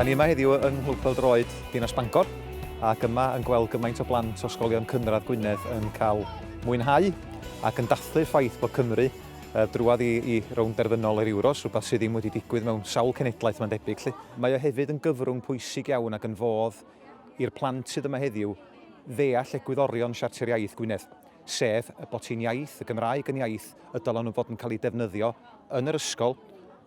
Da ni yma heddiw yng Nghlwb Peldroed Dinas Bangor ac yma yn gweld gymaint o blant o ysgolion cynradd Gwynedd yn cael mwynhau ac yn dathlu'r ffaith bod Cymru uh, drwad i, i rownd derfynol yr Euros, rhywbeth sydd ddim wedi digwydd mewn sawl cenedlaeth mae'n debyg. Lly. Mae o hefyd yn gyfrwng pwysig iawn ac yn fodd i'r plant sydd yma heddiw ddeall egwyddorion Siarter Iaith Gwynedd. sef y bod hi'n iaith, y Gymraeg yn iaith y dylen nhw fod yn cael ei defnyddio yn yr ysgol,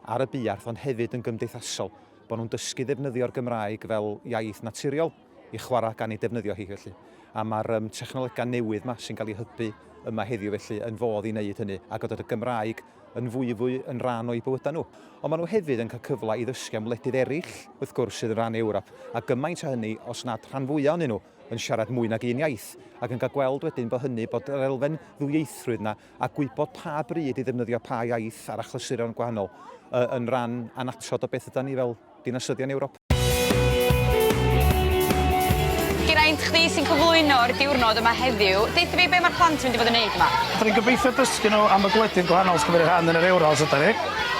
ar y buarth, ond hefyd yn gymdeithasol, bod nhw'n dysgu ddefnyddio'r Gymraeg fel iaith naturiol i chwarae gan ei defnyddio hi felly. A mae'r um, technolegau newydd yma sy'n cael ei hybu yma heddiw felly yn fodd i wneud hynny a godod y Gymraeg yn fwy fwy yn rhan o'i bywydau nhw. Ond maen nhw hefyd yn cael cyfle i ddysgu am wledydd eraill, wrth gwrs, sydd yn rhan Ewrop, a gymaint o hynny os nad rhan fwyaf ohonyn nhw. yn siarad mwy nag un iaith, ac yn cael gweld wedyn bod hynny, bod yr elfen ddwyieithrwydd yna, a gwybod pa bryd i ddefnyddio pa iaith ar achlysuron gwahanol, yn ran annatod o beth ydan ni fel dinasyddion Ewrop. Geraint, chdi sy'n cyflwyno'r diwrnod yma heddiw, deutha fi be mae'r plant yn mynd i fod yn wneud yma? Rydyn ni'n gobeithio dysgu nhw am y gwledydd gwahanol sy'n cymryd rhan yn yr Euros, ydan ni.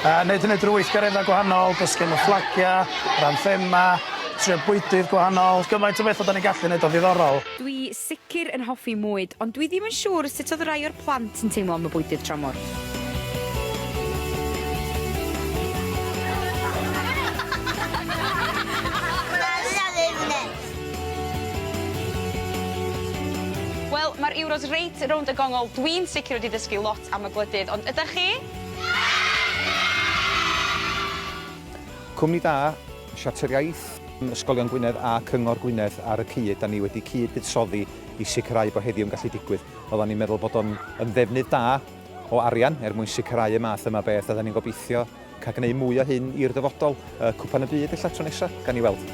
Wneud hynny drwy weithgareddau gwahanol, dysgu am y fflagiau, yr anthemau, Trio bwydydd gwahanol, gymaint o betha 'dan ni'n gallu neud o'n ddiddorol. Dwi sicr yn hoffi mwyd, ond dwi ddim yn siŵr sut oedd rai o'r plant yn teimlo am y bwydydd tramor. Wel, mae'r Euros reit rownd y gongol, dwi'n sicr wedi dysgu lot am y gwledydd, ond ydach chi? Cwmni da! Siarter Iaith, Ysgolion Gwynedd a Cyngor Gwynedd ar y cyd, da ni wedi cyd-buddsoddi i sicrhau bod heddiw yn gallu digwydd. Oeddan ni'n meddwl bod o'n yn ddefnydd da o arian er mwyn sicrhau y math yma beth a da ni'n gobeithio cael gwneud mwy o hyn i'r dyfodol. Yy Cwpan y Byd ella tro nesa? Gawn ni weld.